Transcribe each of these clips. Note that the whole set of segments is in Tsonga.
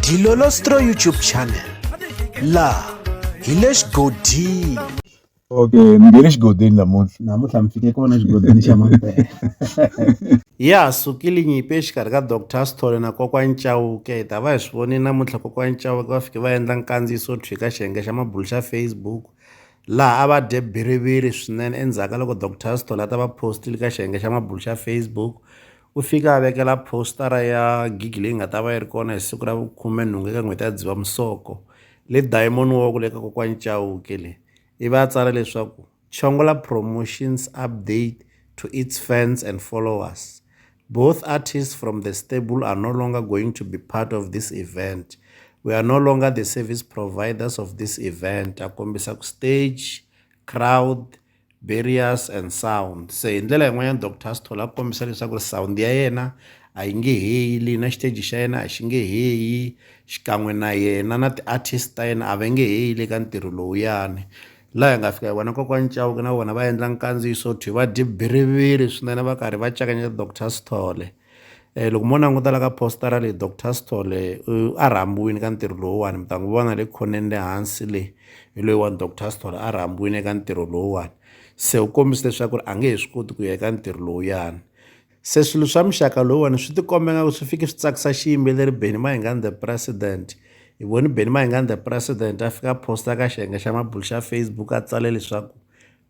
dilolostro youtube channel laha hi le xigodini okay ni nge le xigodini namuntlha namuntlha mi fike kona xigodini xa mampela ya sukile nyimpi exikarhi ka dr sithole na kokwani chauke hi ta va hi swi voni namuntlha kokwani chauke va fike va endla nkandziyiso thwi ka xiyenge xa mabulu xa facebook laha a va dye biriviri swinene endzhaku ka loko dr sithole a ta va postile ka xiyenge xa mabulu xa facebook U fike a vekela positara ya gigi leyi nga ta va yi ri kona hi siku ra vukhumenhungu eka n'hweti ya Dzivamisoko le Diamond Walk le ka kokwani Chauke le ivi a tsala leswaku Chongola Promotions update to its fans and followers both artists from the stable are no longer going to be part of this event we are no longer the service providers of this event a kombisa ku stage crowd Barriers and sound se hi ndlela yin'wanyana doctor Sithole a kombisa leswaku ri sound ya yena a yi nge heyi leyi na xiteji xa yena a xi nge heyi xikan'we na yena na ti-artist ta yena a va nge heyi le ka ntirho lowuyani laha hi nga fika hi vona kokwani Chauke na vona va endla nkandziyiso to va dye biriviri swinene va karhi va cakanyela doctor Sithole. um loko mo languta la ka postara leyi doctor stole a rhambiwile ka ntirho lowuwani mi ta n'wi vona le khoneni le hansi le hi loyiwani doctor stole a rhambiwile eka ntirho lowuwani se u kombisa leswaku ri a nge he swi koti ku ya eka ntirho lowuyani se swilo swa muxaka lowuwani swi tikombeka ku swi fike swi tsakisa xiyimbeleri beni mahingani the president hi voni beni mahingani the president a fika posta ka xiyenge xa mabulu xa facebook a tsale leswaku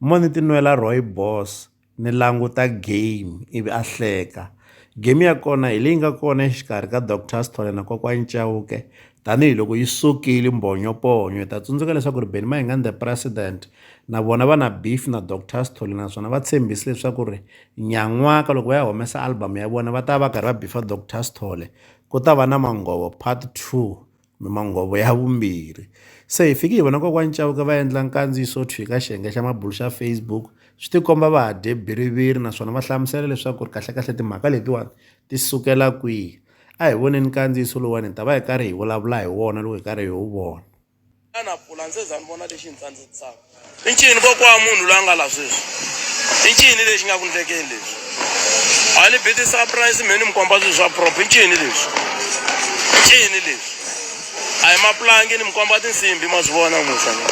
mo ni tinwela roy boss ni languta game ivi a hleka game ya kona hi leyi nga kona exikarhi ka doctor sithole na kokwani chauke tanihiloko yi sukile mbhonyoponyo hi ta tsundzuka leswaku ri beni mahingani the president na vona va na beef na doctor sithole naswona va tshembise leswaku ri nyan'waka loko va ya humesa album ya vona va ta va karhi va beefa doctor sithole ku ta va na manghovo part two Mimanghovo ya vumbirhi. Se hi fike hi vona kokwani Chauke va endla nkandziyiso wo thwika xiyenge xa mabulu xa Facebook swi tikomba va ha dye biriviri naswona va hlamusela leswaku ri kahlekahle timhaka letiwani ti sukela kwihi a hi voneni nkandziyiso lowuwani hi ta va hi karhi hi vulavula hi wona loko hi karhi hi wu vona xana pulani se za ni vona lexi hi ni tsandzisaka I ncini kokwa wa munhu loyi a nga la sweswi? I ncini lexi nga ku ndlekeni leswi? A ni bi ti-surprise me ni mi komba swilo swa prop. I ncini leswi? I ncini leswi? A hi mapulangi ni mi komba tinsimbi ma swi vona musa ni.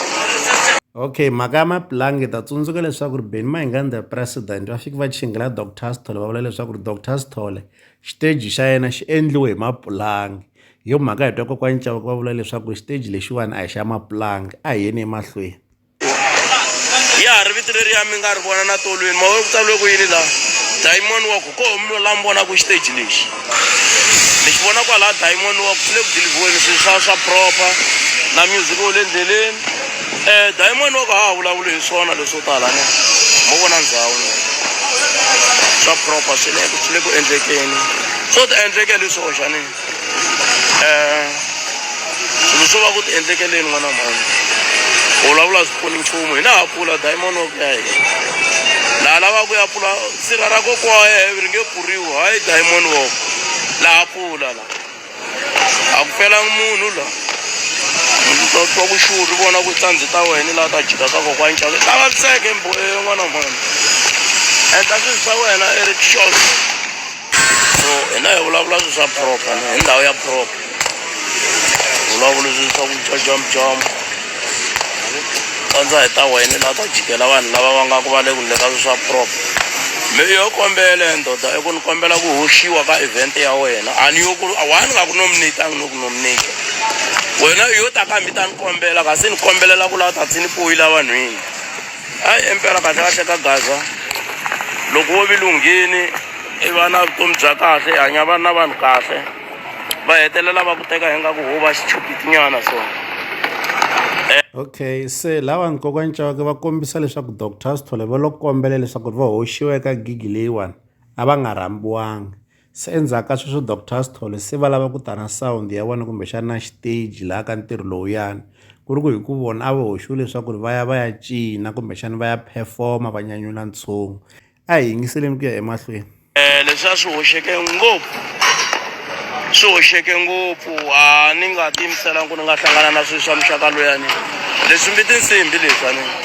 okay mhaka ya mapulangi ta tsundzuka leswaku ri beni mahingani the president va fike va chingela doctor sithole va vula leswaku ri doctor sithole xiteji xa yena xi endliwe hi mapulangi Hi yo mhaka hi twa kokwani Chauke va vula leswaku xiteji lexiwani a hi xa mapulanga a hi yeni emahlweni ya ha ri vito leriya mi nga ri vona na tolweni mawe ku tsaliwe ku yini la diamond wa ku ko mi la mi vonaku xiteji lexi mi xi vona kwalaha diamond wa ku swi le ku dilivhiweni swilo swa swa proper na music wo le ndleleni um diamond wa ku ha ha vulavuli hi swona leswo tala ne mo vona ndhawu ne swa proper swi le swi le ku endlekeni swo ti endleke hi leswi oxanini um swilo swo va ku ti endlekeleni n'wana mhani u vulavula a swi pfuni nchumu hina ha pfula diamond wa ku ya hina laha lavaka ku ya pfula sirha ra kokwa wa yena ri nge pfuriwi hayi diamond walk laha pfula la a ku felanga munhu la twa ku xuru ri vona ku tlhandzi ta wena laha ta jika ka kokwa nxave ta vaviseke mboe n'wana mhani endla swilo swa wena eric short so hina hi vulavula swi swa proper hi ndhawu ya proper vulavula swi swa ku dya jomjombo kandza hi ta wena laha ta jikela vanhu lava va nga ku va le ku ndleka swi swa proper mi yo kombela ndoda i ku ni kombela ku hoxiwa ka event ya wena a ni yo ku a wa ni nga ku nominate a ni no ku nominate wena u yo ta ka mi ta ni kombela kasi ni kombelela ku la ta tsini poyila vanhwini. Hayi impela kahle kahle ka gaza loko wo vilunghini i va na vutomi bya kahle i hanya vanhu na vanhu kahle va hetelela va ku teka hi nga ku ho va xichupitinyana so okay se lava ni kokwani cawake va kombisa leswaku doctor sithole va lo kombela leswaku ri va hoxiwa eka gigi leyiwani a va nga rhambiwanga Se endzhaku ka sweswo Doctor Sithole se va lava ku ta na sound ya vona kumbexana na xiteji laha ka ntirho lowuyani ku ri ku hi ku vona a va hoxiwe leswaku ri va ya va ya cina kumbexana va ya performa va nyanyula ntshungu a hi yingiseleni ku ya emahlweni um leswi a swi hoxeke ngopfu swi hoxeke ngopfu a ni nga tiyimiselanga ku ni nga hlangana na swilo swa muxaka loyani leswi mbi tinsimbi leswi a ni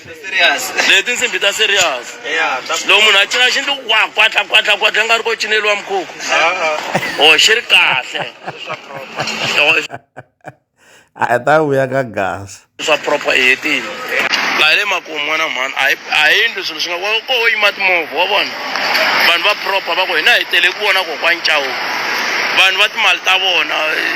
serious leti tinsimbhi ta serious yeah ta loko munhu a cina xi ndli wa kwatla kwatla kwatla nga ri ko cineriwa mukhukhu o xi ri kahle a hi ta vuya ka gasa swa proper i hetile laha le makumu n'wana mhani a hi- a hi ndlu swilo swi nga ko wo yima timovha wa vona vanhu va proper va ku hina hi tele ku vona kokwani cawu vanhu va timali ta vona eh,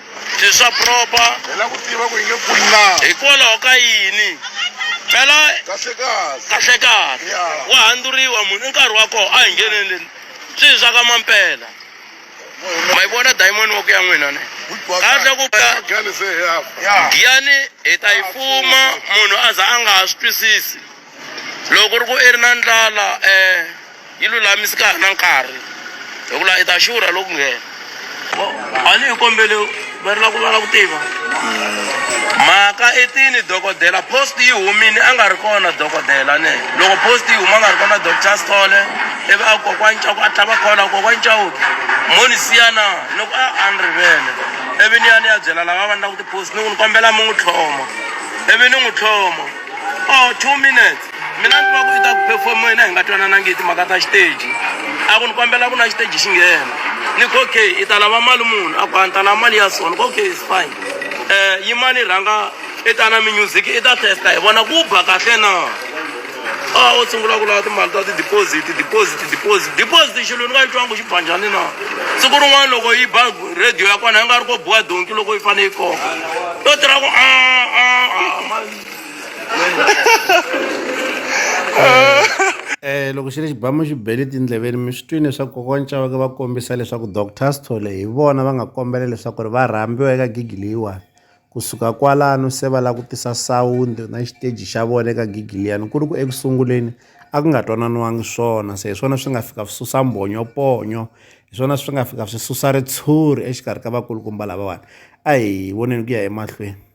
Ti swa proper. Hi la ku tiva ku hi nge pfuni na. Hikwalaho ka yini? Phela kahle kahle. Kahle kahle. Yeah. Wa handzuriwa munhu i nkarhi wa kona a hi ngheneleni. Swi hi swa ka mampela. Ma yi vona diamond wa ku ya n'wina ne. Kahle ku ka Giyani hi ta yi fuma munhu a za a nga ha swi twisisi. Loko ri ku i ri na ndlala yi lulamisi ka ha ri na nkarhi hi ku la i ta xurha loko nghena a ni hi kombele va ri la ku va la ku tiva mhaka i tini dokodela post yi humile a nga ri kona dokodela ne loko post yi huma a nga ri kona doctor Sithole ivi a kokwani Ncaku a tlhava khola kokwani Chauke mo ni siya na ni ku a a ni rivele ivi ni ya ni ya byela lava va ni la ku ti-post ni ku ni kombela mi n'wi tlhoma ivi ni n'wi tlhoma. or two minutes mina ni tiva ku i ta ku performo yena hi nga twananangi hi timhaka ta xiteji a ku ni kombela ku na xiteji xi nghena ni ku okay i ta lava mali munhu a ku a ni ta lava mali ya so ni ku okay is fine um yimani rhanga i ta na mimusic i ta testa hi vona ku ba kahle na a o sungula ku lava timali ta ti-deposit deposit deposit deposit xilo ni nga yi twangi xi ba njhani na siku rin'wana loko yi ba radio ya kona yi nga ri ko biwa donki loko yi fanele yi koka to tirha ku a a a eh loko xi ri xibamu xi bele tindleveni mi swi twini leswaku kokwana chavake va kombisa leswaku doctor sithole hi vona va nga kombela leswaku ri va rhambiwa eka gigi leyiwani kusuka kwalano se va lava ku tisa sawundi na xiteji xa vona eka gigi liyani ku ri ku eku sunguleni a ku nga twananiwangi swona se hi swona swi nga fika swi susa mbhonyoponyo hi swona swi nga fika swi susa ritshuri exikarhi ka vakulukumba lavawani a hi voneni ku ya emahlweni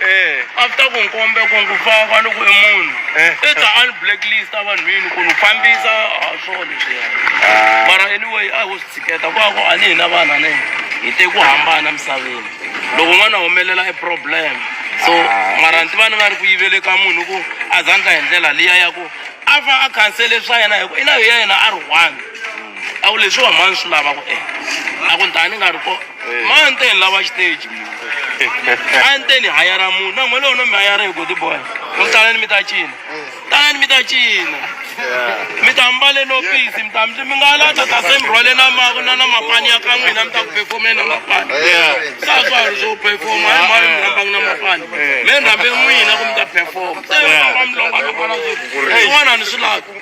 Eh. after ku nkombe ku ngu fava loko i munhu Eh. i ta a ni blacklist a vanhwini ku ni fambisa a swona leswiya Ah. mara anyway a ho swi tshiketa kwako a ni hina vana ne hi te ku hambana misaveni loko n'wana a humelela i problem so Ah. mara ndzi va ni nga ri ku yivele ka munhu ku a zandla hi ndlela liya ya ku a va a khansele swa yena hi ku i na hi ya yena a ri one a ku leswi wa mani swi lava ku endla a ku ntani nga ri ko Eh. mani te ni lava xiteji a ni te ni hayara munhu na n'wele wona mi hayara hi godi boy mi talani mi ta cina talani mi ta cina mi ta mbale no pisi mi ta mi nga la ta ta se mi rhwale na ma na na mapani ya ka n'wina mi ta ku performe na mapani Yeah. sa swa ha ri swo performa hi mani mi rhambanga na mapani mi rhambe n'wina ku mi ta performa se Yeah. va mi longa ka pala swin'wana ni swi lava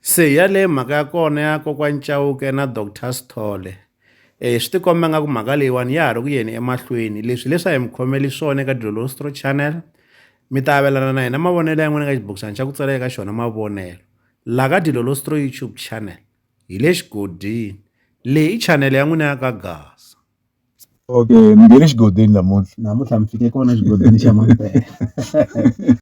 Se yaleyo mhaka ya kona ya kokwani Chauke na Doctor Sithole swi ti komba nga ku mhaka leyiwani ya ha ri ku yeni emahlweni leswi leswi a hi mi khomeli swona eka Dlolostro channel mi ta avelana na hina mavonelo ya n'wina ka xibokisana xa ku tsala eka xona mavonelo la ka Dlolostro YouTube channel hi le xigodini leyi i channel ya n'wina ya ka Gasa okay mi nge le xigodini namuntlha namuntlha mi fike kona xigodini xa Mampela